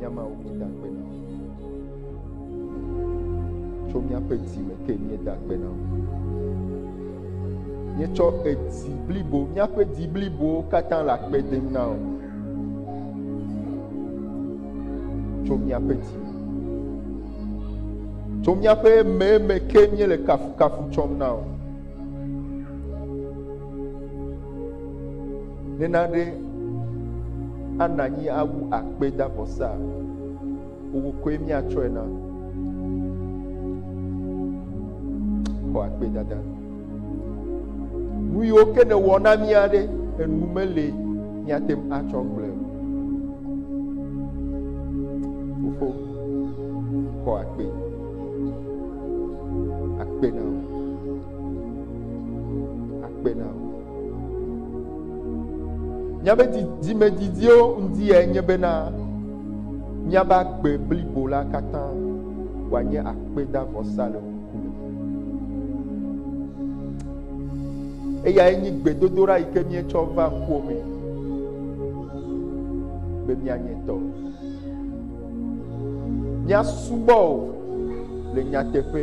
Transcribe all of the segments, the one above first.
Nya mawo míeda akpe na wò. Tso míaƒe dzi me ke míeda akpe na wò. Míetsɔ edzi blibo, míaƒe dzi blibowo katã le akpe dem na wò. Tso míaƒe dzi me. Tso míaƒe meme ke míele kafukafu tsɔm na wò. Nena ɖe Ana nyi awu akpedavɔsaa, wò koe míatsɔe na. Xɔ akpedada. Nu yiwo ke nèwɔ na mía ɖe, enu meli míate ŋu atsɔ gblɔe o. Fofo, xɔ akpe. Akpe na wò. Akpe na wò. Míaƒe dzidzimedzidziwo ŋdi yae nye bena míaƒe agbe blibo la katã wòanye akpedavɔsa le wo ŋkume. Eyae nye gbedodoɖa yi ke míetsɔ va ŋkuwo me be míanye tɔ. Míasubɔ o le nyateƒe.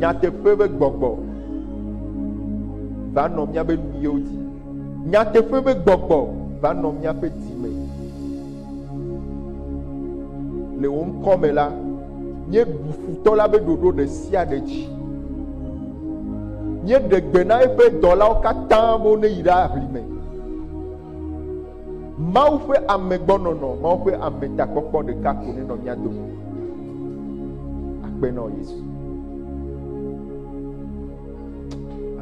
Nyateƒe ƒe gbɔgbɔ va nɔ míaƒe nuyiwo dzi. Nyateƒe ƒe gbɔgbɔ va nɔ míaƒe dzi me. Le wò ŋkɔ me la, míeɖu futɔ la ƒe ɖoɖo ɖe sia ɖe dzi. Míeɖe gbe na eƒe dɔlawo katã be woneyi ɖe aʋli me. Mawu ƒe amegbɔnɔnɔ, Mawu ƒe ametakpɔkpɔ ɖeka ko nenɔ mía dome. Akpe na wò Yesu.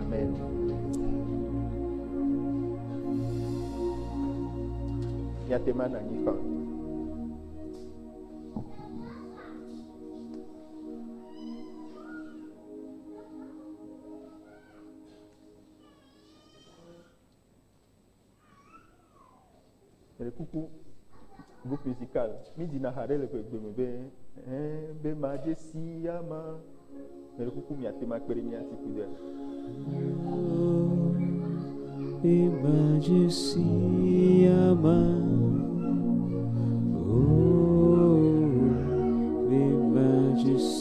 Amen. Míate ŋu anɔ anyi kpam. Meɖe kuku groupe musical mi dina ha ɖe le ƒe gbeme be eh be ma dze si ya ma meɖe kuku mi ate ma kpe ɖe mi ati ku de. Be ma dze si ya ma oh be ma dze si.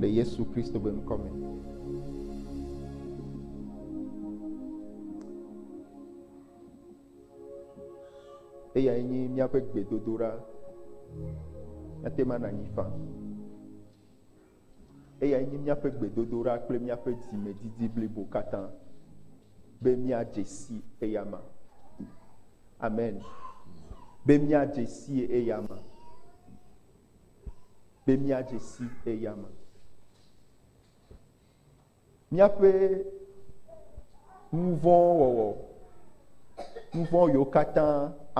Le Yesu Kristo ƒe ŋkɔ me. Eyae nye míaƒe gbedodoɖa. Ekema nànyi faa. Eyae nye míaƒe gbedodoɖa kple míaƒe dzimedidi blibo katã be míadze si eyama. Amen. Be míadze si eyama. Be míadze si eyama. Míaƒe nuvɔ̃wɔwɔ, nuvɔ̃ yiwo katã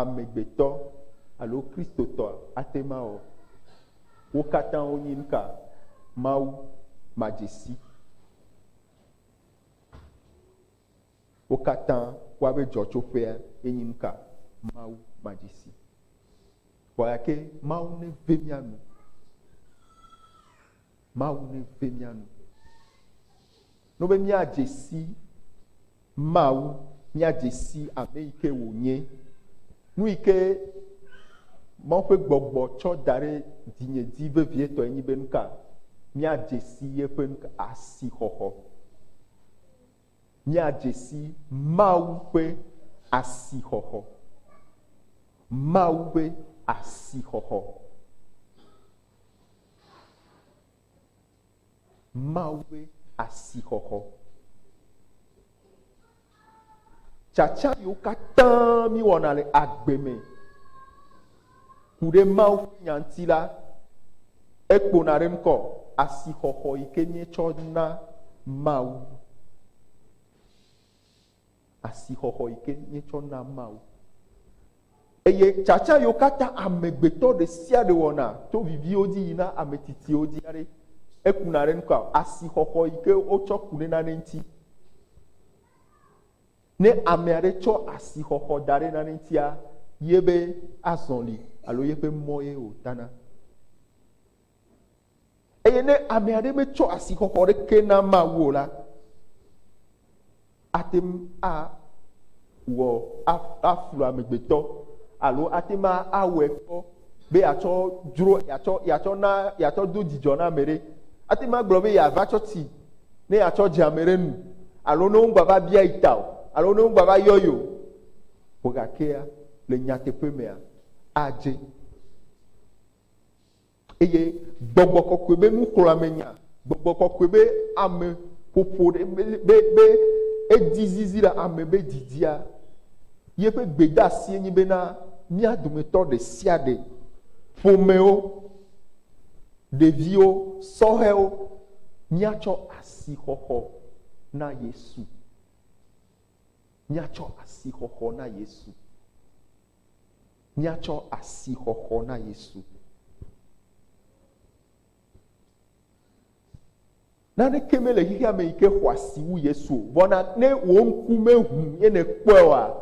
amegbetɔ alo Kristotɔ ate ŋu awɔ, wo katã wonye nu ka? Mawu madzesi. Wo katã woaƒe dzɔtsoƒea enye nu ka? Mawu madzesi. Vɔ gake Mawu neve mía nu. Mawu neve mía nu. No be míadze si Mawu, míadze si ame yi ke wònye, nu yi ke Mawu ƒe gbɔgbɔ tsɔ da ɖe dzinye dzi vevietɔe nye be nu ka míadze si yeƒe asixɔxɔ. Míadze si Mawu ƒe asixɔxɔ. Mawu ƒe asixɔxɔ. Mawu ƒe asixɔxɔ. Tsatsa yiwo katã míwɔna le agbe me ku ɖe Mawu ƒe nya ŋuti la, ekpona ɖe ŋkɔ asixɔxɔ yi ke míetsɔ na Mawu. asixɔxɔ yi ke míetsɔ na Mawu. Eye tsatsa yiwo katã amegbetɔ ɖe sia ɖe wɔna to viviwo dzi yina ame tsitsiwo dzi aɖe ekuna ɖe nukua asixɔxɔ yi ke wotsɔ ku ɖe nane ŋuti. Ne ame aɖe tsɔ asixɔxɔ da ɖe nane ŋutia, ye be azɔli alo yeƒe mɔ ye wòtana. Eye ne ame aɖe metsɔ asixɔxɔ ɖeke na Mawu o la, ate ŋu awɔ aflu amegbetɔ alo ate ŋu awɔe kpɔ be yeatsɔ dzro yeatsɔ yeatsɔ na yeatsɔ do dzidzɔ na ame ɖe. Ate ŋu agblɔ be yeava tsɔ tsi ne yeatsɔ dze ame ɖe nu alo ne wogbava bia yi ta o alo ne wogbava yɔ yi o. Vɔ gakea le nyateƒe mea adze. Eye gbɔgbɔ kɔkɔe be nuxlɔ̃amenya, gbɔgbɔ kɔkɔe be ame ƒoƒo ɖe be, be, be edi zizi le ame be didia, ye ƒe gbedeasie nye bena mía dometɔ ɖe sia ɖe, ƒomewo, ɖeviwo, sɔhɛwo, míatsɔ asixɔxɔ na Yesu. Míatsɔ asixɔxɔ na Yesu. Míatsɔ asixɔxɔ na Yesu. Naneke mele xexea me yi ke xɔ asi wu Yesu o. Vɔ na ne wò ŋku meʋu ye nèkpɔe oa,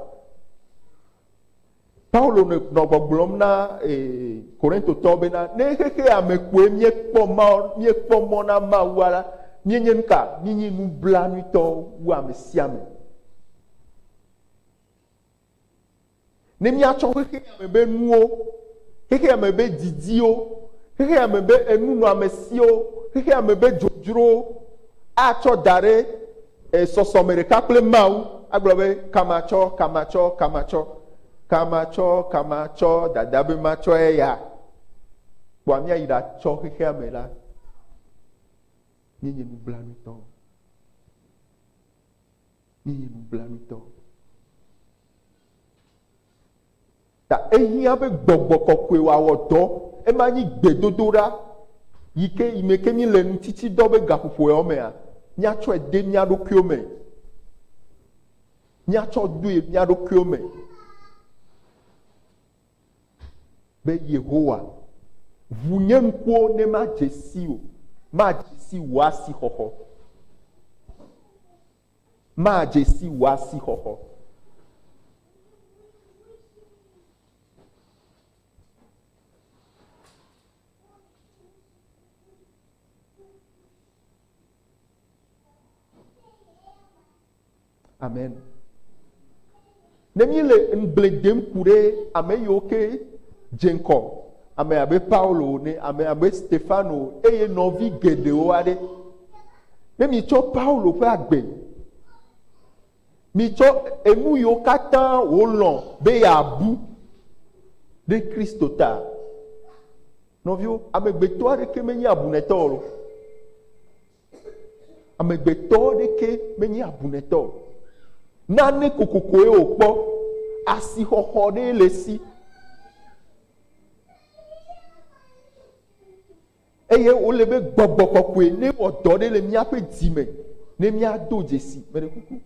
Paulo nɔ gbɔgblɔm na ee, Korintotɔwo bena, ne xexea me koe míekpɔ ma, míekpɔ mɔ na Mawua la, míenye nuka? Mínyi nublanuitɔ wu ame sia ame. Ne míatsɔ xexeame be nuwo, xexeame be didiwo, xexeame be enunɔamesiwo, xexeame be dzodzrowo atsɔ da ɖe e, sɔsɔme ɖeka kple Mawu, agblɔ be, kama tsɔ, kama tsɔ, kama tsɔ, kama tsɔ, kama tsɔ, dada be matsɔ eya, kpɔa míayi ɖatsɔ xexeame la, míenye nublanuitɔwo. Miyi nublanuitɔ. Ta ehiã be Gbɔgbɔ Kɔkɔe wòawɔ dɔ. Ema nyi gbedodoɖa yi ke yi me ke míele nu tsitsi dɔ be gaƒoƒo yawo mea, míatsɔe de mía ɖokuiwo me. Míatsɔ doe mía ɖokuiwo me. be Yehowa, ʋu nye ŋkuwo ne madze siwò, madze si wò asixɔxɔ, madze si wò asixɔxɔ. Amen. Ne mi le ŋgble dem ku ɖe ame yiwo ke dze ŋkɔ, ame abe Paulo ne ame abe Stefano eye nɔvi geɖewo aɖe. Ne mi tsɔ Paulo ƒe agbe, mi tsɔ enu yiwo katã wòlɔ̃ be yeabu ɖe Kristo ta. Nɔviwo, amegbetɔ aɖeke menye abunɛtɔ o. Amegbetɔ ɖeke menye abunɛtɔ o. Nane kokokoe wòkpɔ, asixɔxɔ ɖee le esi. Eye wòle be gbɔgbɔ kɔkɔe ne wɔ dɔ ɖe le míaƒe dzi me ne míado dzesi meɖe kuku.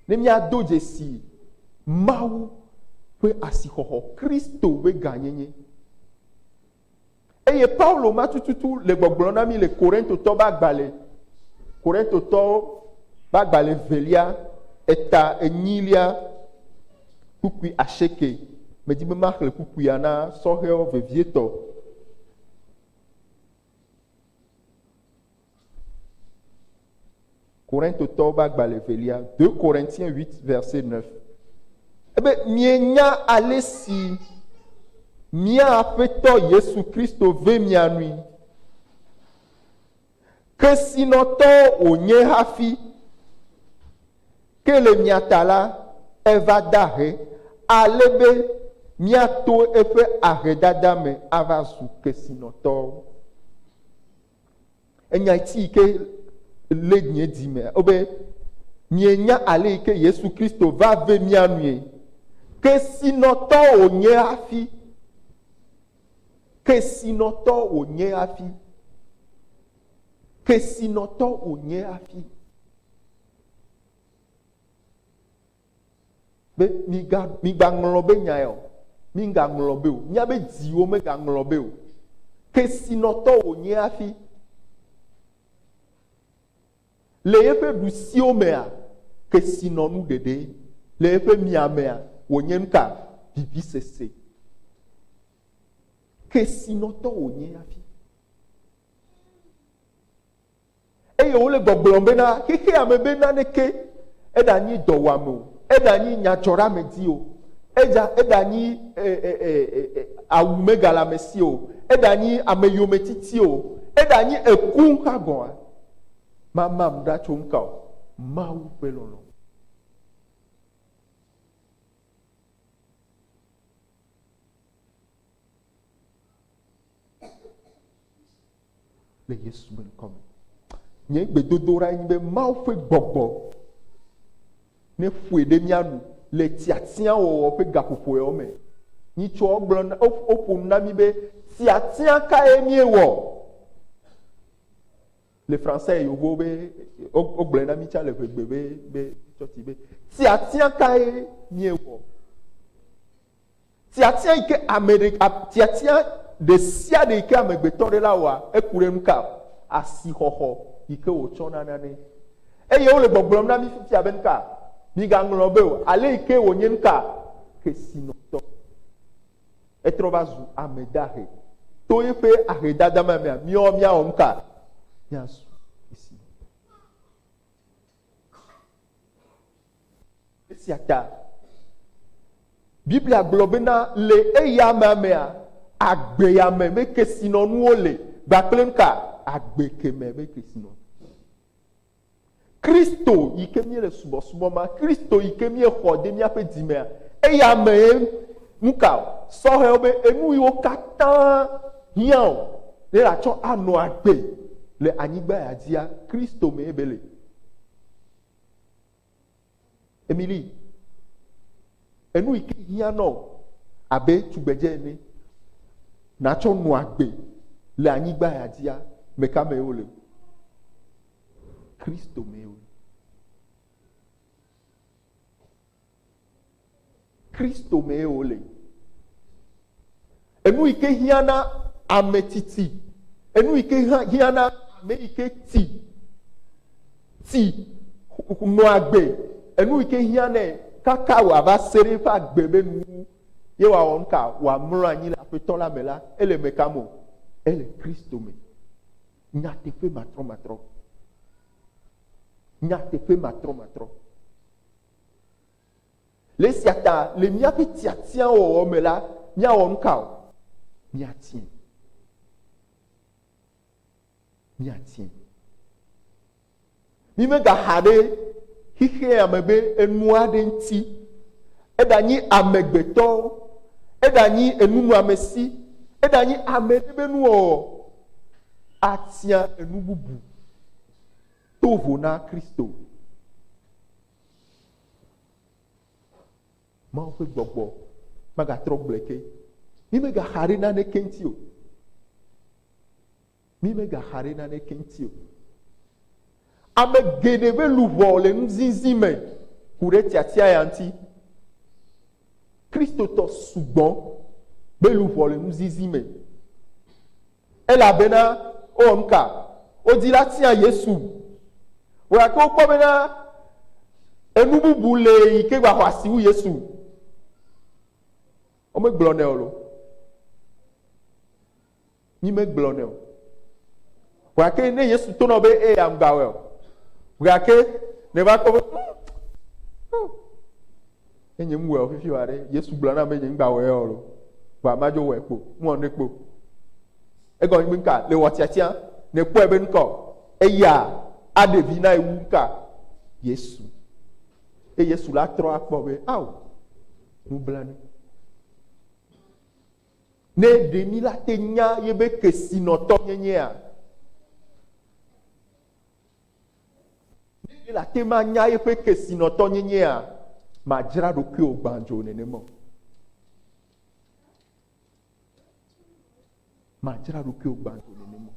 Ne míado dzesi Mawu ƒe asixɔxɔ, Kristo ƒe gãnyenye. Eye Paulo ma tututu le gbɔgblɔ na mi le Korintotɔ ba gbale, Korintotɔ ba gbale velia, eta enyilia, kpukpui aseke. Medi be maxle kpukpuia na sɔhɛwo vevietɔ. Korintotɔwo be agbalẽ velia, 2 Corinthiens 8, verset 9. Ebe mienya ale si mía Aƒetɔ Yesu Kristo ve mia nui. Kesinɔtɔ wònye hafi, ke le mia ta la, eva da ahe, ale be míato eƒe ahedada me ava zu kesinɔtɔwo. Enya ti ke lé nye dzi me wobe mienya ale yi ke Yesu Kristo va ve mía nue. Kesinɔtɔ wònye hafi. Kesinɔtɔ wònye hafi. Kesinɔtɔ wònye hafi. be miga migaŋlɔ be nyae o migaŋlɔ be o nya be dziwo megaŋlɔ be o kesinɔtɔ wònye hafi le yeƒe ɖusiwo mea kesinɔnu ɖeɖe le yeƒe miamea wònye nuka vivisese kesinɔtɔ wònye hafi eye wole gbɔgblɔm bena xexeame be naneke eɖanyi dɔwuame o, eɖanyi nyadzɔɖeamedi o, eɖa, eɖanyi e, e, e, e, e, awumegalamesi o, eɖanyi ameyometiti o, eɖanyi eku hã gɔ̃a, mamam ɖa tso nuka o? Mawu ƒe lɔlɔ̃. le Yesu ƒe ŋkɔ me. Nye gbedodoɖa nye be Mawu ƒe gbɔgbɔ neƒoe ɖe mía nu le tiatiawɔwɔ ƒe gaƒoƒoewo me. Nyitsɔ gblɔ na woƒo nu na mi be tiatia kae miewɔ le fransɛ yevuwo be wogblɔe na mi tsa le ʋegbe be be tsɔti be tiatia kae miewɔ. Tiatia yi ke ame ɖe, tiatia ɖe sia ɖe yi ke amegbetɔ ɖe la wɔa, eku ɖe nu ka? Asixɔxɔ yi ke wòtsɔna nane. Eye wole gbɔgblɔm na mí fifia be nu ka? Migaŋlɔ be o, ale yi ke wònye nu ka? Kesinɔtɔ. Etrɔ va zu ame dahe. To eƒe ahedada ma mea, míawo míawɔ nu ka? Míazu kesinɔtɔ. Esia ta Biblia gblɔ bena le eyama mea, agbeyame me kesinɔnuwo le kpakple nuka? Agbe kemɛ me kesinɔnu. Kristo yi ke míele subɔsubɔ ma, Kristo yi ke míexɔ de míaƒe dzi mea, eyamee Nukaɔ sɔhɛwo be enuyiwo katã hiãɔ be atsɔ anɔ agbe le anyigba ya dzia? Kristo mee be le. Emily, enuyike hiã nɔo abe tugbedze ene natsɔ nɔ agbe le anyigba ya dzia, meka mee wole? Kristo mee wole. Kristo mee wòle. Enu yi ke hiã na ame tsitsi, enu yi ke hiã na ame yi ke ti, ti nɔa agbe, enu yi ke hiã nɛ kaka wòava se ɖe eƒe agbe be nuwuwu ye wòawɔ nu ka wòamlɔ anyi le aƒetɔ la me la, ele me ka me o? Ele Kristo me. Nyateƒe matrɔmatrɔ. Nyateƒe matrɔmatrɔ. Le esia ta, le míaƒe tiatiawɔwɔ me la, míawɔ nu ka o? Míatie. Míatie. Mímegaxa ɖe xexea me be enu aɖe ŋuti. Eɖanyi amegbetɔ, eɖanyi enunɔamesi, eɖanyi ame ɖe be nuwɔwɔ atia enu bubu. Do vo na Kristo. Mawu ƒe gbɔgbɔ magatrɔ gblɔe ke. Mi megaxa ɖe nane keŋti o. Mi megaxa ɖe nane keŋti o. Ame geɖe ƒe luʋɔ le nuzizi me ku ɖe tiatia ya ŋuti. Kristotɔ sugbɔ be luʋɔ le nuzizi me. Elabena, ɔ, nuka wodi la tia Yesu wɔa ke wokpɔ bena enu bubu le yi ke gba xɔ asi wu Yesu. Womegblɔ nɛ o lo. Mi megblɔ nɛ o. Wɔa ke ne Yesu to nɔ be e ya ŋgba wɔe o. Wɔa ke ne va kpɔ be. Ne nye ŋu wɔ fifi wa ɖe, Yesu gblɔ na be nye ŋgba wɔ yɔ lo. Vɔa ma dzo wɔe kpo, ŋu wɔ ne kpo. Egɔ ŋgbe ŋka, le wɔ tiatia, ne kpɔe be ŋkɔ, eya a ɖe vi na ewu ŋka, Yesu. E Yesu la trɔ akpɔ be, ao, nu bla nu. Ne ɖe mi la te nya ye be kesinɔtɔ nye nyea, Ne míele ate ŋu anya eƒe kesinɔtɔnyenyea, màdzra ɖokuiwò gbãdzo nenema o. Màdzra ɖokuiwò gbãdzo nenema o.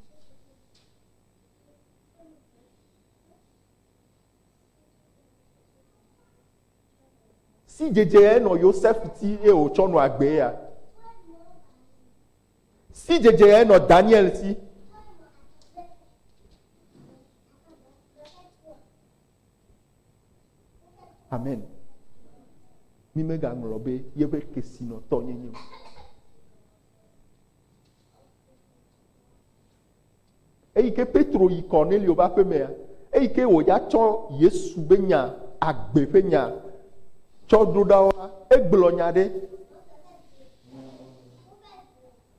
Si dzedze nɔ Yosef ti eye wòtsɔ nɔ agbee ya. Sidzedze nɔ Daniel si. Amen. Mi megaŋlɔ be yeƒe kesinɔtɔ nyenye o. Eyike Petro yi Kornelio be aƒemea, eyike wòya tsɔ Yesu be nya, agbe ƒe nya, tsɔ ɖo ɖa woa, egblɔ nya ɖe.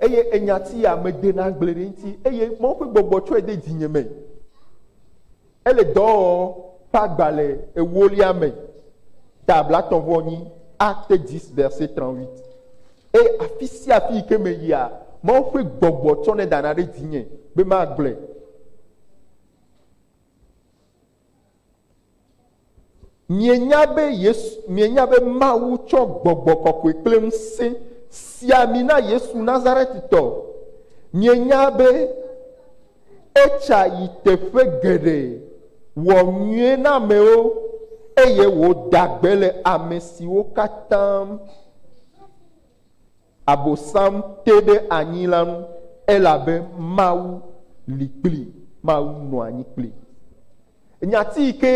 Eye enya tia, medena gble ɖe eŋuti, eye Mawu ƒe gbɔgbɔ tsɔe de dzinye me. Ele dɔɔ ƒe agbalẽ ewolia me, ta blatɔ̃ vɔ nyi, Actes 10, verset 38. Eye afisiafi yi ke meyia, Mawu ƒe gbɔgbɔ tsɔnɛ dana ɖe dzinye be magblɔe. Mienya be Yesu, mienya be Mawu tsɔ gbɔgbɔ kɔkɔe kple ŋusẽ sia mi na Yesu Nazaretitɔ. Mienya be etsa yi teƒe geɖe, wɔ nyui na amewo, eye wòda gbe le ame siwo katã Abosam te ɖe anyi la ŋu, elabe Mawu li kplii, Mawu nɔ anyi kplii. Nyati yi ke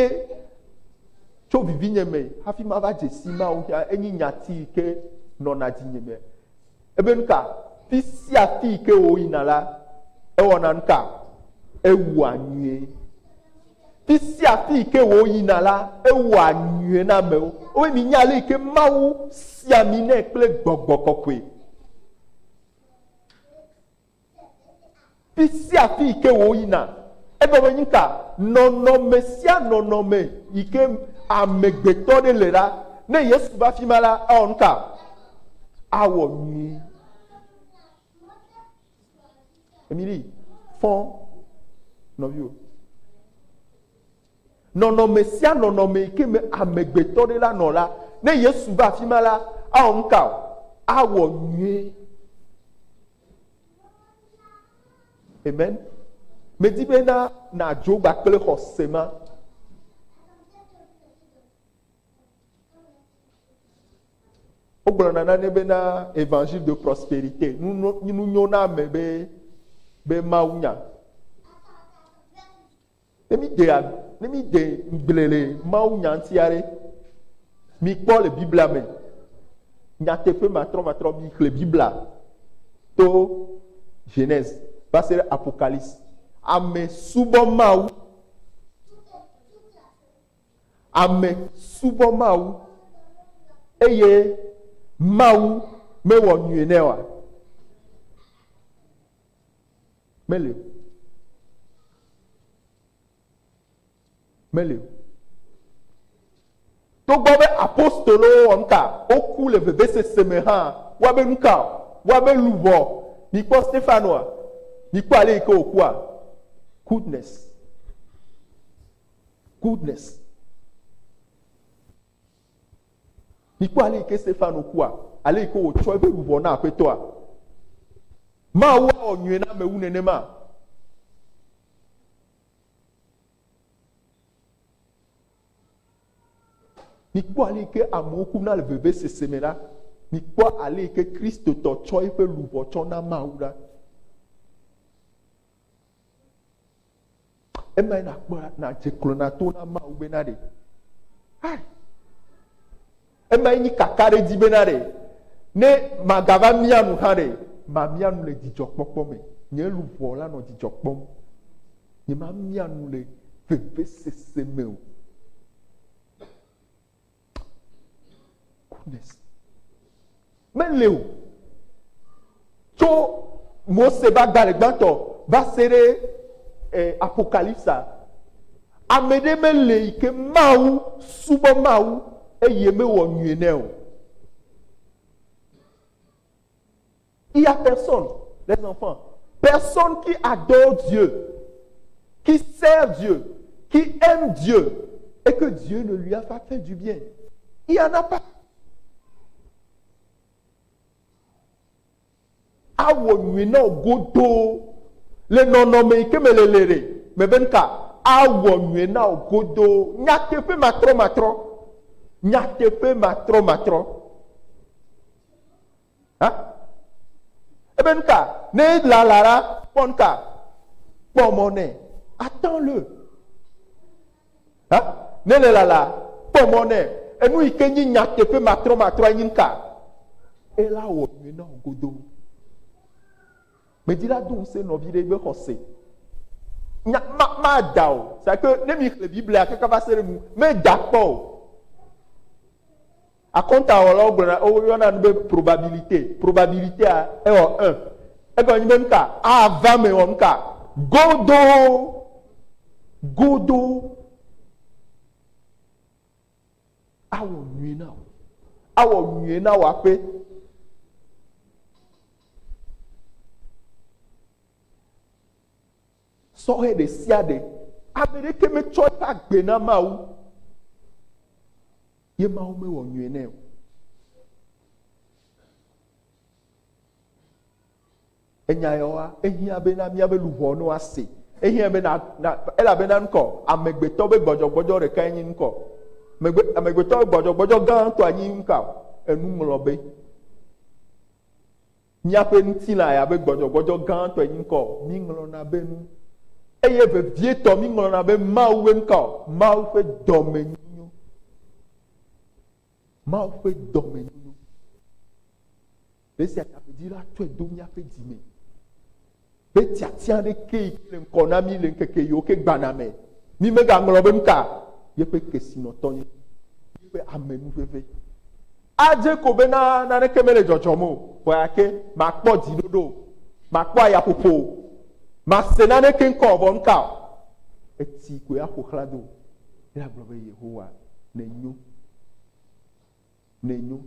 tso vivinye me hafi mava dze si Mawu ŋu enye nyati yi ke nɔna dzinye me. Ebe nuka? Fi sia fi yi ke wòyina la, ewɔna nuka? Ewua nyuie. Fi sia fi yi ke wòyina la, ewɔa nyui na amewo. Wobe minya ale yi ke Mawu si ami nɛ kple gbɔgbɔ kɔkɔe. Fi sia fi yi ke wòyina. Egɔme nyi ka? Nɔnɔme sia nɔnɔme yi ke amegbetɔ ɖe le la, ne Yesu va afi ma la, awɔ nu ka? Awɔ nyui. Emily, fɔ nɔviwo. Nɔnɔme sia nɔnɔme yi ke me amegbetɔ ɖe la nɔ la, ne Yesu va afi ma la, awɔ nu ka o? Awɔ nyuie. Amen. Medi be na nàdzo gba kple xɔse ma. Wogblɔna nane bena Evangile de Prosperite, nunyoname be, be mawunya. Ne mi de, ne mi de gble le mawunya ŋuti aɖe, mi kpɔ le Biblia me, nyateƒe matrɔ matrɔ mi xle Biblia to Genèse va se ɖe Apocalypse. Ame subɔ mawu. Ame subɔ Mawu eye Mawu mewɔ nyui nɛ oa? Meli o. Meli o. Togbɔ be apostolowo wɔ nuka? Woku le vevesese me hã. Woa be nuka? Woa be luʋɔ. Mikpɔ Stefanoa. Mikpɔ ale yi ke wòkua. Goodness. Goodness. Mikpɔ ale yi ke Stefano kua, ale yi ke wòtsɔ eƒe luʋɔ na aƒetɔa. Mawu awɔ nyuie na amewu nenema. Mikpɔ ale yi ke amewo ku na le vevesese me la, mikpɔ ale yi ke Kristotɔ tsɔ eƒe luʋɔ tsɔ na Mawu la. Eme nakpɔ nadze klo na to na Mawu be na ɖe. Hai. Eme nyi kaka ɖe dzi be na ɖe. Ne magava mia nu hã ɖe, mamia nu le dzidzɔkpɔkpɔ me. Nye luʋɔ la nɔ dzidzɔ kpɔm. Nye mamia nu le vevesese me o. Goodness. Mele o. Tso Mose va gbalẽ gbãtɔ va se ɖe eh, Apokalipsa. Ame ɖe mele yi ke Mawu subɔ Mawu eye mewɔ nyui nɛ o. Il y a personne, les enfants, personne qui adore Dieu, qui sert Dieu, qui aime Dieu et que Dieu ne lui a pas fait du bien. Il n'y en a pas. Awɔ nyui na wò godoo le nɔnɔme yi ke me le le ɖe mebe nu ka awɔ nyui na wò godoo nyateƒe matrɔmatrɔ nyateƒe matrɔmatrɔ Ha? Ebe nu ka? Ne lala la, kpɔ nu ka? Kpɔ mɔ nɛ. Attends le. Ha? Ne le lala, kpɔ mɔ nɛ. Enu yi ke nyi nyateƒe matrɔmatrɔ nyi nu ka? Ela wɔ nyui na wò godoo. Medi la do ŋusẽ nɔvi ɖe be xɔse. Nya ma ma da o. C'est que ne mi xlẽ Biblia kaka va se ɖe nu, meda kpɔ o. Akɔntawɔlawo gblɔna, woyɔna nu be probabilité, probabilité a, ewɔ un. Egɔme nyi be nuka? Ava eme wɔ nuka? Godoo. Godoo. Awɔ nyuie na wò. Awɔ nyuie na wò aƒe. Sɔhɛ ɖe sia ɖe, ame ɖeke metsɔ eƒe agbe na Mawu. Ye Mawu mewɔ nyuie nɛ o. Enya yewoa, ehiã be na míaƒe luʋɔ no ase. Ehiã be na, na elabena ŋkɔ, amegbetɔ be gbɔdzɔgbɔdzɔ ɖekae nye ŋkɔ. Megbe, amegbetɔ be gbɔdzɔgbɔdzɔ gãtɔa nye ŋkɔ, enuŋlɔbe. Míaƒe ŋutilã ya be gbɔdzɔgbɔdzɔ gãtɔe nye ŋkɔ o, míŋlɔna be nu, eye vevietɔ míŋlɔna be Mawu be ŋkɔ, Mawu ƒe dɔmenyonyo, Mawu ƒe dɔmenyonyo. Ɖe esia ta be dzila tsɔe do míaƒe dzi me. be tiatia aɖeke yi ke le ŋkɔ na mí le ŋkeke yiwo ke gbana me. Mí megaŋlɔ be nu ka yeƒe kesinɔtɔ nye, yeƒe amenuveve. Adze ko be na naneke mele dzɔdzɔm o, vɔ gake makpɔ dziɖoɖo o, makpɔ ayaƒoƒo o, mase naneke ŋkɔ o, vɔ nu ka o, eti koe aƒo xlã do. Ye agblɔ be, Yehowa, nènyo. nɛ nyo.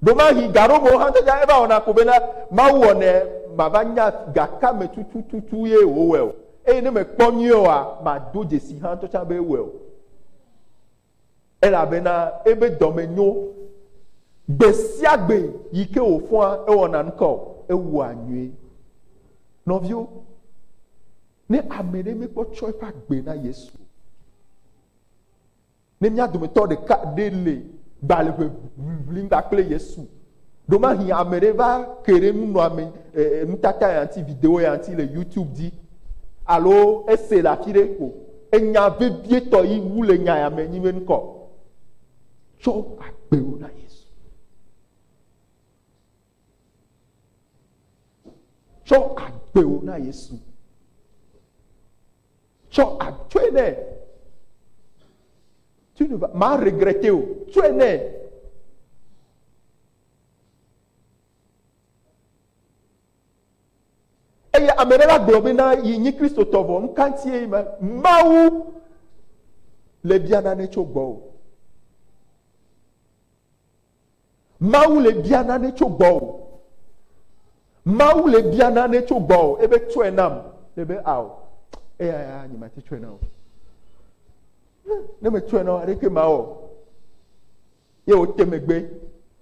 Ɖewomahi gaɖomewo hã dze eva wɔna ko bena Mawu wɔ nɛ mava nya gaka me tutututu ye wòwɔe o, eye ne mekpɔ nyuie oa, mado dzesi hã ŋutɔ tsã be ewɔe o. Elabena ebe dɔ me nyo. Gbe sia gbe yi ke wòfɔa ewɔna nuka o, ewɔa nyuie. Nɔviwo, ne ame ɖe mekpɔ tsɔ eƒe agbe na Yesu o, Ne mía dometɔ ɖeka ɖe le gbalẽʋe ʋlim kpakple Yesu, ɖomahi ame ɖe va ke ɖe nunɔame e, nutata ya ŋuti, video ya ŋuti le YouTube dzi, alo ese le afi ɖe ko. Enya vevietɔ yi wu le nya ya me nyi be ŋkɔ. Tsɔ agbewo na Yesu. Tsɔ agbewo na Yesu. Tsɔ a tsɔe nɛ. Tu ne va ma regrette o. Tsɔe nɛ. Eye ame ɖe la gblɔ be na yi nyi Kristotɔ vɔ nu ka ŋutie ma Mawu le bia nane tso gbɔwò. Mawu le bia nane tso gbɔwò. Mawu le bia nane tso gbɔwò ebe tsɔe nam. Ebe ao, eya nye mate tsɔe na o. Ne me tsɔe na o, ɖeke mawɔ. Ye wote megbe,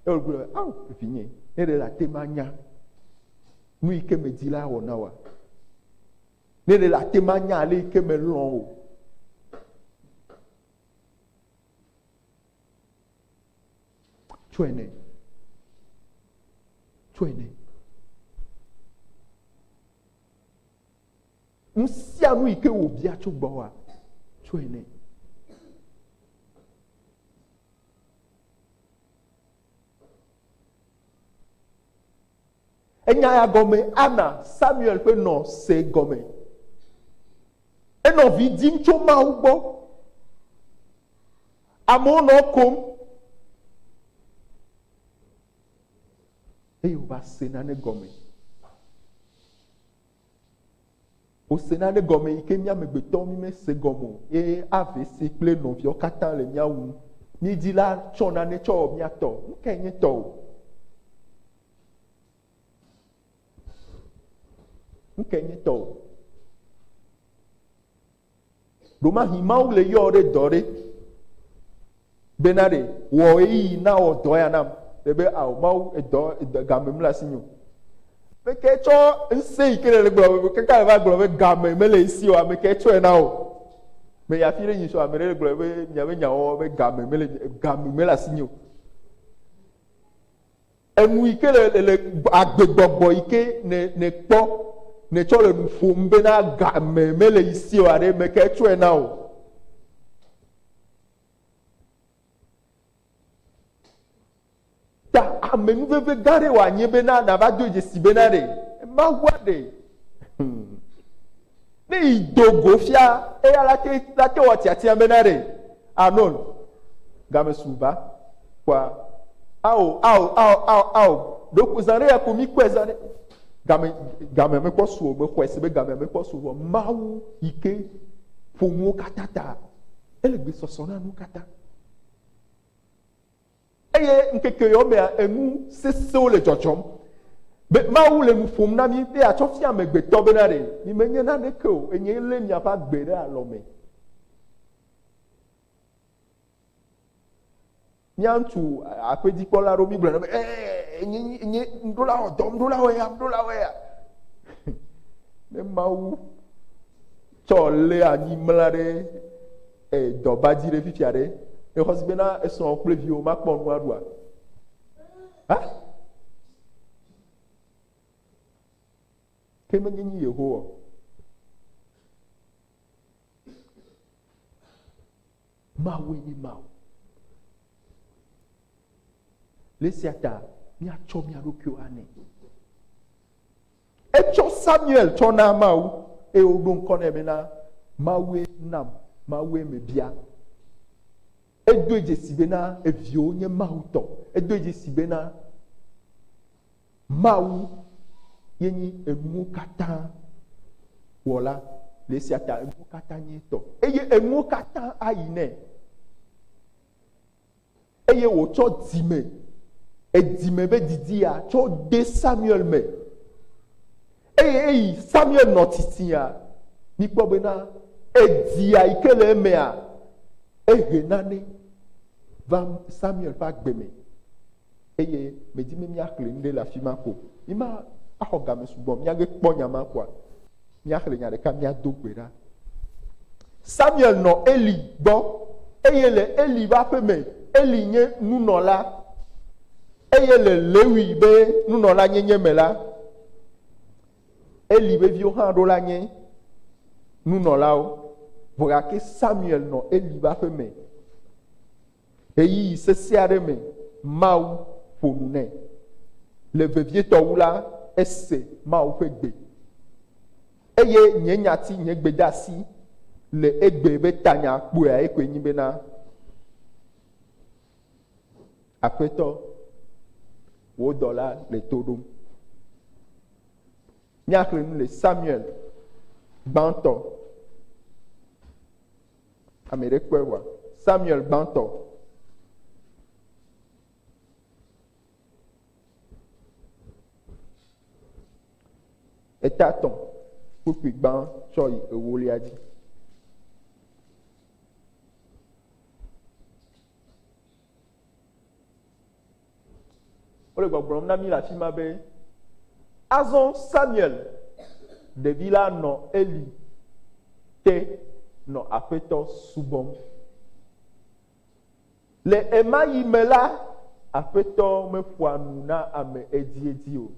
ye wogblɔ, ao, vinye, ne ɖe la te ma nya, nu yi ke me di la wɔ na wa. Ne ɖe la te ma nya ale yi ke me lɔ o. Tsɔe nɛ. Tsɔe nɛ. Nu sia nu yi ke wòbia tso gbɔwòa, tsɔe nɛ. Enya ya gɔme ana Samuel ƒe nɔ se gɔme. Enɔ vi dim tso Mawu gbɔ. Amewo nɔ ekom. Eye wòva se nane gɔme. Wose nane gɔme yi ke mía amegbetɔwo mímese gɔme o eye ave ese kple nɔviawo katã le mía wum. Mídi la tsɔ nane tsɔ wɔ mía tɔ. Nu kae nye tɔwò? Nu kae nye tɔwò? Ɖomahi Mawu le yɔ ɖe dɔ ɖe bena ɖe wɔ ɣeyiɣi na wɔ dɔ ya nam. Ɖe be ao Mawu edɔ edɔ game mle asi nyo. Meke tsɔ ŋusẽ yi ke le gblɔ be kaka le va gblɔ be game mele esi o ame ke tsɔe na wò. Me ya fi ɖe nyi so ame ɖe le gblɔ be miabe nyawɔwɔ be game mele game mele asi nyo. Enu yi ke le, le, le agbegbɔgbɔ yi ke nè, nèkpɔ, nètsɔ le nu ƒom bena game mele yi si o aɖe, ame kae tsɔe na wò? Ta ame nuveve gã aɖe wòanye bena nàva doe dzesi bena ɖe Mawua ɖee. Hmm. Ne yi do go fia eya la te la te wɔ tiatia be na ɖe anon game su ba kɔa ao ao ao ao ao ɖoku zan ɖe ya ko mi kɔe zan ɖe game game me kɔ su o me xɔe se be game me kɔ su vɔ mawu yi ke ƒo nuwo katã ta ele gbesɔsɔ na nu katã. Eye ŋkeke yawo mea, enu sesẽwo le dzɔdzɔm. Be Mawu le nu ƒom na mí be yeatsɔ fia amegbetɔ bena ɖe mimenye naneke o, enyee lé miaƒe agbe ɖe alɔ me. Mía ŋutsu aƒedzikpɔla aɖewo mígblɔna be, ee, nye, nye, nuɖola wɔ dɔm, nuɖola wɔ ya, nuɖola wɔ ya. Ne Mawu Tsɔ lé anyi mla ɖe e dɔba dzi ɖe fifia ɖe. Exɔ si bena esrɔ̃ kple viwo makpɔ nu aɖua? Ha? Ke menye nyi Yehowa. Mawu enye Mawu. Le sia ta míatsɔ mía ɖokuiwo anɛ. Etsɔ Samuel tsɔ na Mawu eye woɖo ŋkɔ nɛ bena, Mawue nam, Mawue mebia. Edoe dzesi bena eviwo nye Mawu tɔ. Edoe dzesi bena Mawu ye nyi enuwo katã wɔla le esia ta enuwo katã nye etɔ eye enuwo katã ayi nɛ. Eye wòtsɔ dzime, edzime be didi ya, tsɔ de Samuel me. Eye eyi Samuel nɔ tsitsia. Mikpɔ bena, edzia yi ke le emea, ehe nane va Samuel ƒe agbe me. Eye medi be míaxlẽ nu ɖe le afi ma ko. Míma axɔ game sugbɔ o. Míage kpɔ nya ma koa, míaxlẽ nya ɖeka míado gbe ɖa. Samuel nɔ Eli gbɔ eye le Eli ƒe aƒe me, Eli nye nunɔla eye le Lewi be nunɔla nyenye me la, Eli ƒe viwo hã ɖo la nye nunɔlawo. Vɔ gake Samuel nɔ Eli ƒe aƒe me. ɣeyiɣi sesẽ aɖe me Mawu ƒo nu nɛ. Le vevietɔ wu la, ese Mawu ƒe gbe, eye nye nyati, nye gbedeasi le egbe be tanya kpɔae koe nye bena, Aƒetɔ, wò dɔla le to ɖom. Míaxlẽ nu le Samuel gbãtɔ. Ame ɖe kpɔe wa Samuel gbãtɔ. Eta tɔn kpukpui gbã tsɔ yi ewolia dzi. Wole gbɔgblɔm na mí le afi ma be, Azɔ Samuel, ɖevi la nɔ Eli te nɔ Aƒetɔ subɔm. Le ɣemaɣi me la, Aƒetɔ meƒoa nu na ame edziedzi o.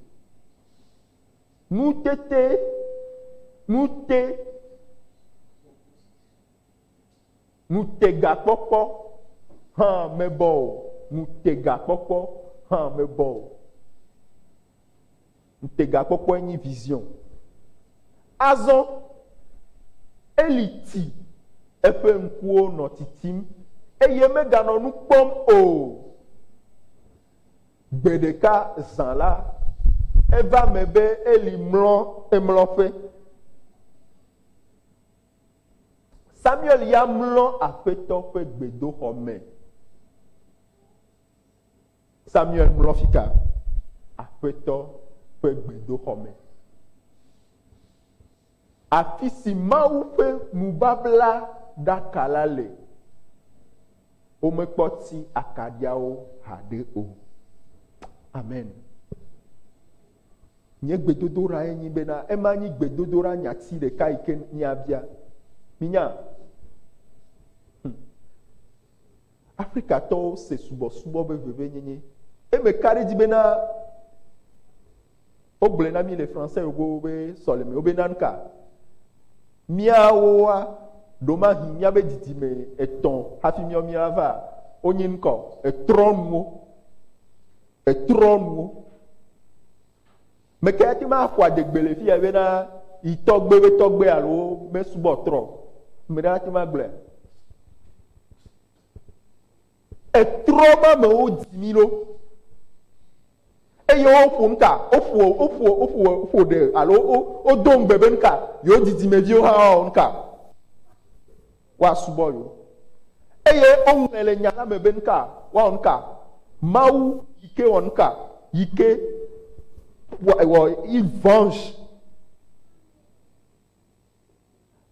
Nu tete, nu te. Ŋutegakpɔkpɔ hã mebɔ o, ŋutegakpɔkpɔ hã mebɔ o. Ŋutegakpɔkpɔe nye vision. Azɔ Eli ti, eƒe ŋkuwo nɔ titim, eye meganɔ nu kpɔm o. Gbe ɖeka zã la, eva eme be Eli mlɔ emlɔƒe. Samuel ya mlɔ Aƒetɔ ƒe gbedoxɔ me. Samuel mlɔ fika? Aƒetɔ ƒe gbedoxɔ me. Afi si Mawu ƒe nubabla ɖaka la le. Womekpɔ ti akaɖiawo haɖe o. Amen. Nye gbedodoɖae nye bena ema nyi gbedodoɖa nyati ɖeka yi ke míabia. Minya? Hm. Afrikatɔwo se subɔsubɔ be vevenyenye. Eye meka ɖe edzi bena wogblɔe na mí le Français yogowo be sɔlemewo be nanka. Míawoa, ɖomahi míabe didime etɔ̃ hafi míawo míava wonye ŋkɔ etrɔnuwo. Etrɔ nuwo. Meke ate ŋu axɔ adegbe le fia bena yi tɔgbe be tɔgbe alo mesubɔ trɔ. Ame ɖe ate ŋu agblɔe. Etrɔ ma mewo dzi mí ɖo. Eye woƒo nu ka? Woƒo woƒo woƒo woƒo ɖe alo wodo ŋugbe be nu ka? Yewo didimeviwo hã woawɔ nu ka? woasubɔ yewo. Eye woŋlɔe le nya la me be nuka woawɔ nuka? Mawu yi ke wɔ nuka? Yi ke wɔ une venge.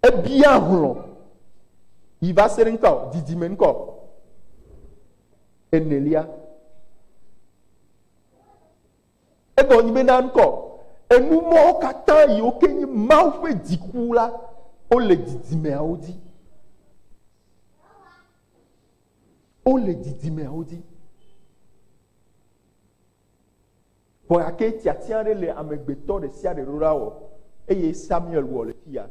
Ebia hlɔ yi va se ɖe ŋkɔ, didime ŋkɔ. Enelia. Egɔ nyi be na ŋkɔ enu mɔwo katã yiwo ke nyi Mawu ƒe dziku la wole didimeawo dzi. Wole didimeawo dzi. Vɔ gake tiatia aɖe le amegbetɔ ɖe sia ɖe ɖoɖa wɔ eye Samuel wɔ le fia.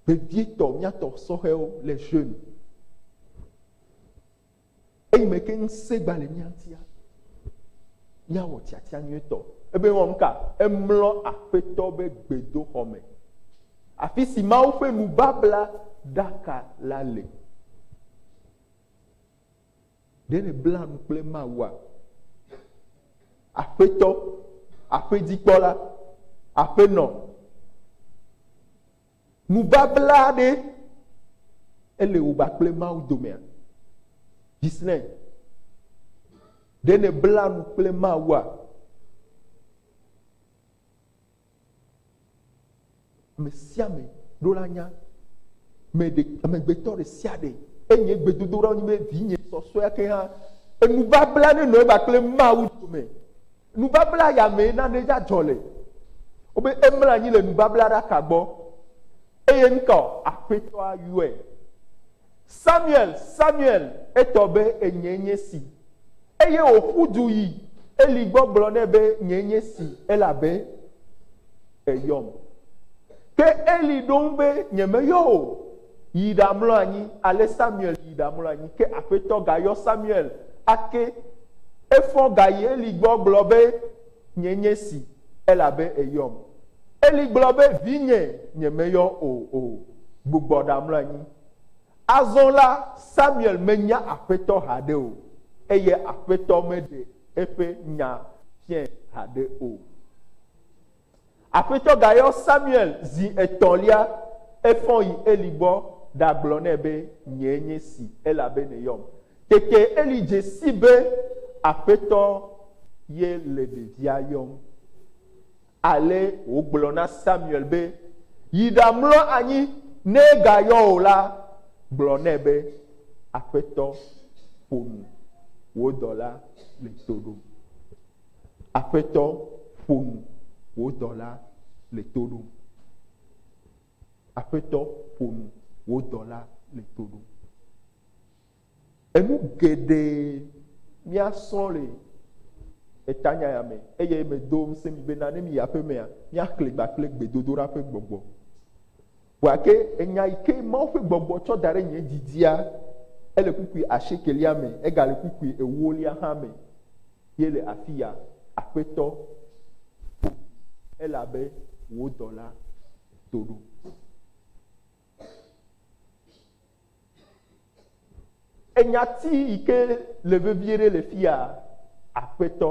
Vevietɔ, míatɔ sɔhɛwo le jeune. Eyi me ke ŋusẽ gba le mía ŋutia, míawɔ tiatia nyuitɔ. Ebe wɔ nuka? Emlɔ Aƒetɔ be gbedoxɔ me, afi si Mawu ƒe nubabla ɖaka la le. Ɖe nèbla nu kple Mawua? Aƒetɔ, Aƒedzikpɔla, Aƒenɔ. Nubabla ɖe ele wò kple Mawu domea? Gislen, ɖe nèbla nu kple Mawua? Ame sia ame ɖo la nya. Amegbetɔ ɖe sia ɖe enye gbedodoɖa nye vinye sɔsɔea ke hã. Enubabla ne nɔ eba kple Mawu dome. Nubabla ya mee nane ya dzɔ le. Wobe emlɔ anyi le nubablaɖaka gbɔ eye ŋutɔ Aƒetɔa yɔe. Samuel, Samuel, etɔ be enyee nye si. Eye wòƒu du yi Eli gbɔ gblɔ nɛ be nyee nye si elabe èyɔm. Ke Eli ɖo ŋu be nyemeyɔ wò o. yi ɖamlɔ anyi. Ale Samuel yi ɖamlɔ anyi. Ke Aƒetɔ gayɔ Samuel ake. Efɔ gayi Eli gbɔ gblɔ be, Nye nye si, elabe èyɔm. Eli gblɔ be, Vinye, nyemeyɔ wò o. Gbugbɔ ɖamlɔ anyi. Azɔ la, Samuel menya Aƒetɔ haɖe o, eye Aƒetɔ meɖe eƒe nya fiae haɖe o. Aƒetɔ gayɔ Samuel zi etɔ̃lia, efɔ yi Eli gbɔ ɖagblɔ nɛ be, Nyee nye si, elabe nèyɔm. Tete Eli dze sii be Aƒetɔ ye le ɖevia yɔm. Ale wògblɔ na Samuel be, Yi ɖamlɔ anyi, ne egayɔ wò la, gblɔ nɛ be, Aƒetɔ, ƒo nu, wò dɔla le to ɖom. Aƒetɔ, ƒo nu, wò dɔla le to ɖom. Aƒetɔ, ƒo nu, wò dɔla le to ɖom. Enu geɖe míasrɔ̃ le etanya ya me eye medo ŋusẽ mi bena ne miyi aƒemea, míaxlẽ ba kple gbedodoɖa ƒe gbɔgbɔ. Gake enya yi ke Mawu ƒe gbɔgbɔ tsɔ da ɖe nye dzi dzia, ele kpukpui asiekɛlia me, egale kpukpui ewolia hã me ye le afiya, Aƒetɔ, ƒo nu, elabe wò dɔla do ɖom. Enyati yi ke le vevie ɖe le fiya, Aƒetɔ.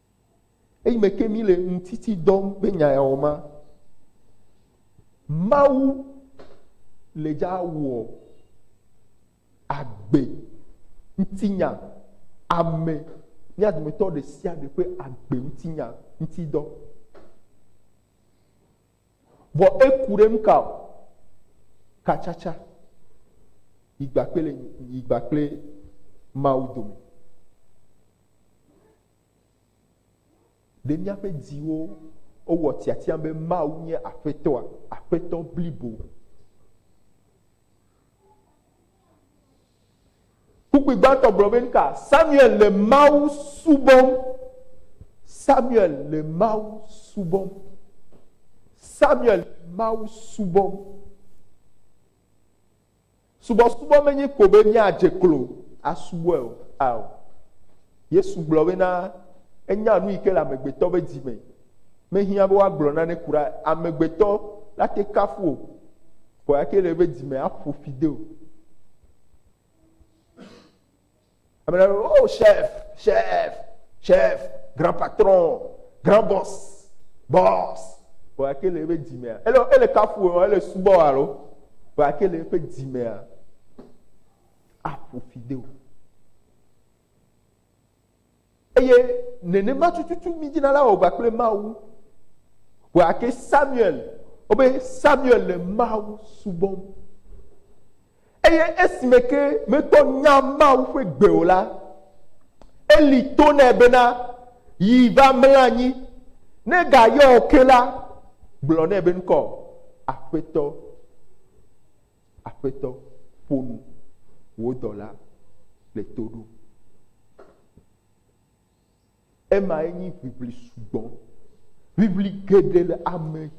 Eyime ke míle ŋutiti dɔm be nya ya wɔ ma, Mawu le dza wɔ agbe ŋutinya ame, mía dometɔ ɖe sia ɖe ƒe agbe ŋutinya ŋuti dɔ. Vɔ eku ɖe nu ka o? Katsatsa yi gbakple le yi gbakple Mawu dome. Ɖe míaƒe dziwo wɔ tiatia be Mawu nye Aƒetɔa, Aƒetɔ blibo? Kpukpui gbãtɔ gblɔ be nuka? Samuel le Mawu subɔm. Samuel le Mawu subɔm. Samuel le Mawu subɔm. Subɔsubɔ menye ko be míadze klo asubɔe o. Ao, Yesu gblɔ bena enya nu yi ke le amegbetɔ ƒe dzi me. Mehiã be woagblɔ nane kura amegbetɔ nate kafu o, vɔ eya ke le eƒe dzi me aƒo fi de o. Ame aɖewo be, oh chef, chef, chef, grand patron, grand boss, boss. Vɔ ake le eƒe dzimea? Ele ele kafu wò alo ele subɔ wò alo? Vɔ ake le eƒe dzimea? Aƒo fi de o. Eye nenema tututu mi dzina la wɔgba kple Mawu. Wɔa ke Samuel, wobe Samuel le Mawu subɔm. Eye esime ke metɔ nya Mawu ƒe gbe o la, Eli to nɛ bena, yi va mla anyi, ne gayɔ o ke la, gblɔ nɛ be ŋkɔ, Aƒetɔ. Aƒetɔ, ƒo nu, wò dɔla le to ɖom. Emae nyi ʋiʋli sugbɔ. Ʋiʋli geɖe le ame,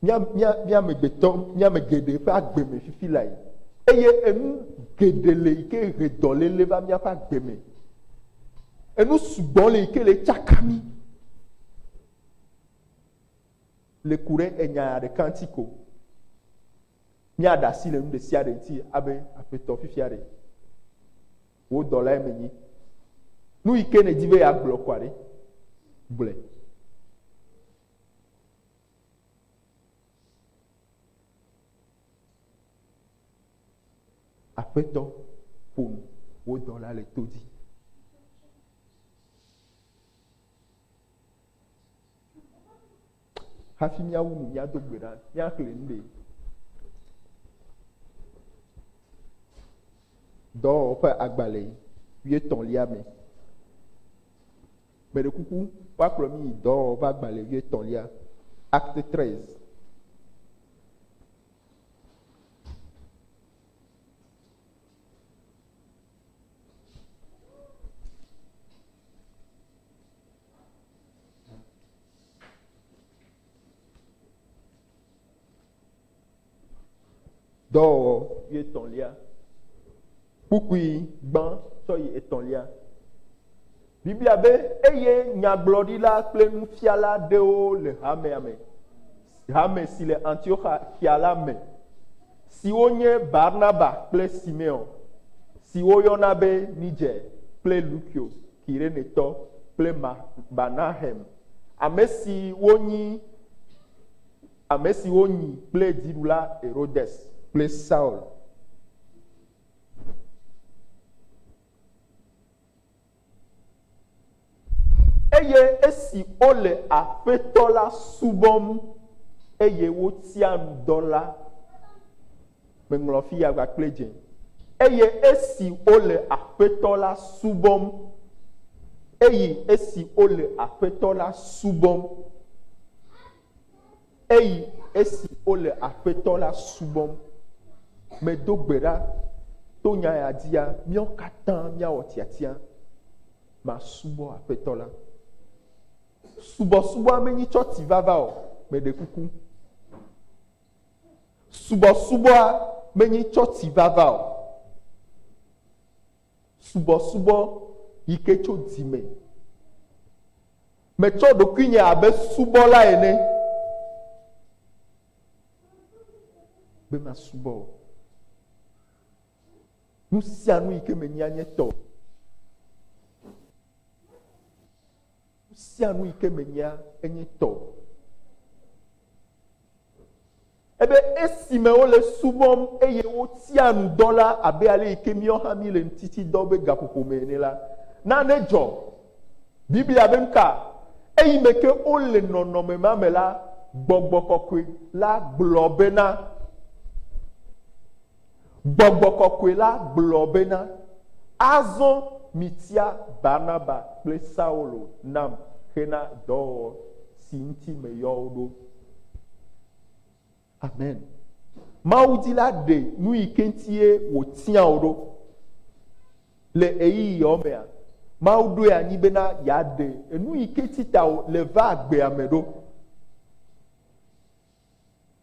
míamegbetɔ, míame geɖe ƒe agbe me fifi lae. Eye enu geɖe le yi ke he dɔléle va míaƒe agbe me. Enu sugbɔ le yi ke le tsaka mí. le ku ɖe enya ɖeka ŋuti ko. Míaɖe asi le nu ɖe sia ɖe ŋuti abe aƒetɔ fifia ɖe. Wò dɔlae menyi. Nu yi ke nèdi be yeagblɔ kɔa ɖe, gblɔe. Aƒetɔ ƒo nu, wò dɔla le to dzi. Hafi míawu nu míado gbe ɖa míaxlẽ nu ɖe. Dɔwɔwɔ ƒe agbalẽ wuietɔ̃lia me. Meɖe kuku woakplɔ mí yi dɔwɔwɔ ƒe agbalẽ wuietɔ̃lia, Acte 13. Dɔwɔwɔ yi etɔ̃lia, kpukpui gbã tsɔ yi etɔ̃lia. Biblia be, Eye nyagblɔɖila kple nufiala aɖewo le hamea me, hame si le Antioxia la me, siwo nye Barnaba kple Simeon, si woyɔna be Niger kple Lukio. Kirenetɔ kple Manahem, ame siwo nyi ame siwo nyi kple dziɖula Herodes kple Saul. Eye esi wole Aƒetɔ la subɔm eye wotia nu dɔ la, Meŋlɔ fi yagba kple dze. Eye esi wole Aƒetɔ la subɔm, eyi esi wole Aƒetɔ la subɔm, eyi esi wole Aƒetɔ la subɔm, medo gbe ɖa to nya ya dzia, míawo katã míawɔ tiatia masubɔ Aƒetɔ la. Subɔsubɔa menyi tsɔ ti vava o, meɖe kuku. Subɔsubɔa menyi tsɔtsi vava o. Subɔsubɔ yi ke tso dzi me. Metsɔ ɖokuinye abe subɔla ene be masubɔ o. Nu sia nu yi ke menyia nye tɔ. Nu sia nu yi ke menyia enye tɔ. Ebe esime wole subɔm eye wotia nu dɔ la abe ale yi ke míawo hã míele ŋtiti dɔ be gaƒoƒo me ene la, nane dzɔ. Biblia be nuka? Eyime ke wole nɔnɔme ma me la, gbɔgbɔ kɔkɔe la gblɔ bena, Gbɔgbɔ kɔkɔe la gblɔ bena, Azɔ mitia Barnaba kple Saulo nam hena dɔwɔwɔ si ŋuti meyɔ wo ɖo. Amen. Mawu di la ɖe nu yi ke ŋutie wòtia wò ɖo. Le ɣeyiɣiawo mea, Mawu ɖoe anyi bena yeaɖe enu yi ke ŋuti ta wòle vaa gbea me ɖo.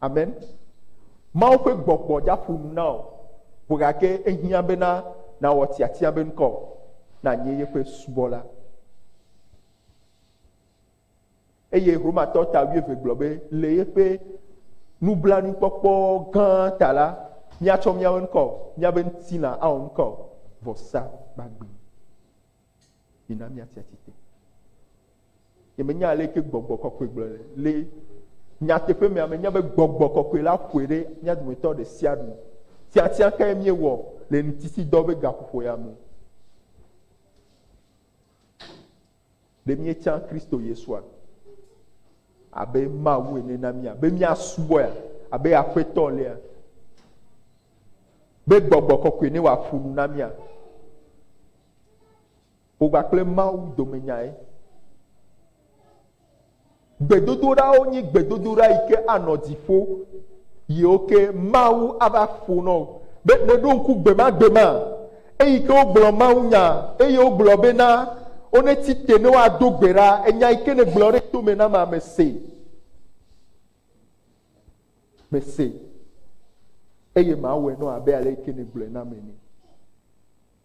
Amen. Mawu ƒe gbɔgbɔ dza ƒo nu na wò vo gake ehiã bena nàwɔ tiatia be ŋkɔ nànye yeƒe subɔla. Eye Romatɔ ta wuieve gblɔ be le yeƒe nublanuikpɔkpɔ gã ta la, míatsɔ míawo ŋkɔ, míabe ŋutilã awɔ ŋkɔ vɔsa gbagbe. Mina míatsi atsitre. Yemenya aleke gbɔgbɔ kɔkɔe gblɔ le. Le nyateƒe mea, menya be gbɔgbɔ kɔkɔe la ƒoe ɖe mía dometɔ ɖe sia ɖe. Tiatia kae míewɔ le ŋutisidɔ ƒe gaƒoƒo ya me? Ɖe míetsã Kristo Yesua abe Mawu ene na mía be míasubɔe abe aƒetɔ lea be gbɔgbɔ kɔkɔe ne wòaƒo nu na mía. Ƒo gba kple Mawu domenyae. Gbedodoɖawo nyi gbedodoɖa yi ke anɔ dziƒo yiwo ke Mawu ava ƒo nɔ wò. Be nèɖo ŋku gbemagbema eyi ke wogblɔ mawunya eye wogblɔ bena wonetsi te ne woado gbe ɖa enya yi ke nègblɔ ɖe to me na mea, mese. Mese. Eye mawɔe nɔ abe ale yi ke nègblɔe nam ene.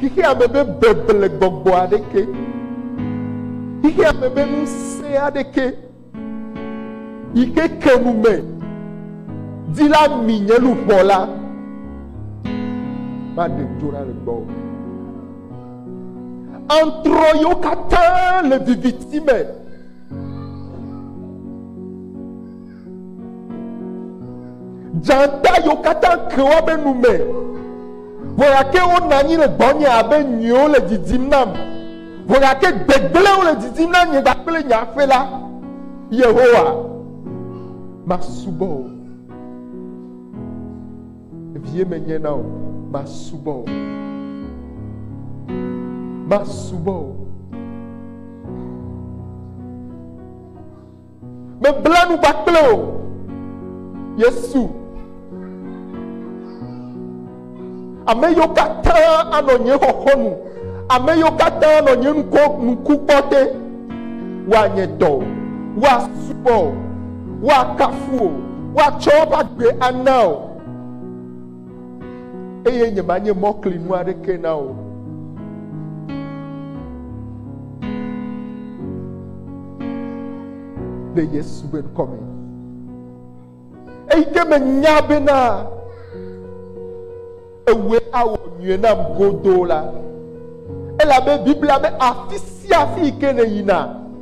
Xexea me be beble gbɔgbɔ aɖeke, xexea me be ŋusẽ aɖeke yi ke ke nu me di la mi nye luʋɔ la va ɖe dzo ɖa le gbɔ. Antrɔ yiwo katã le viviti me. Dzata yiwo katã ke woabe nu me. Ʋɔyake wonɔ anyi le gbɔnye abe nyiwo le didim nam. Ʋɔyake gbegblẽwo le didim na nye kpakple nye aƒe la. Yehowa, masubɔ wò. Vie menye na wò, masubɔ wò. Masubɔ wò. Mebla nu kpakple wò, Yesu. Ame yiwo katã anɔ nye xɔxɔ nu, ame yiwo katã anɔ nye ŋkɔ ŋku kpɔ te, woanye tɔ, woasubɔ, woakafu, woatsɔ woƒe agbe ana. eye nyemanye mɔklinu aɖeke na wò. Le Yesu be ŋkɔ me. Eyi ke menya bena ewɔe awɔ nyuie nam godoo la, elabe Biblia be afi sia afi yi ke nèyina,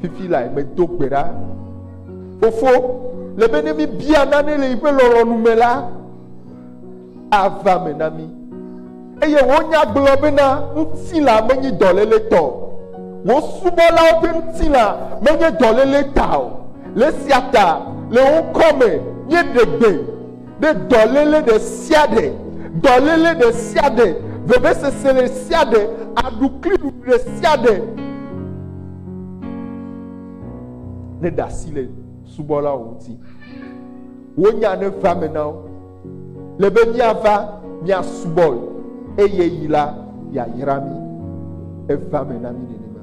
Fifi lae medo gbe ɖa. Fofo, le be ne mibia nane le yiƒe lɔlɔ̃nu me la, ava me na mí. Eye wò nya gblɔ bena ŋutilã menye dɔléle tɔ o. Wò subɔlawo ƒe ŋutilã menye dɔléle ta o. Le esia ta, le wò ŋkɔ me míeɖe gbe Ɖe dɔléle ɖe sia ɖe, dɔléle ɖe sia ɖe, vevesese ɖe sia ɖe, aɖukliɖuɖu ɖe sia ɖe neɖe asi le subɔlawo ŋuti. Wonya ne va me na wo. Le be míava míasubɔe eye yi la yeayra mí. Eva me na mí nenema.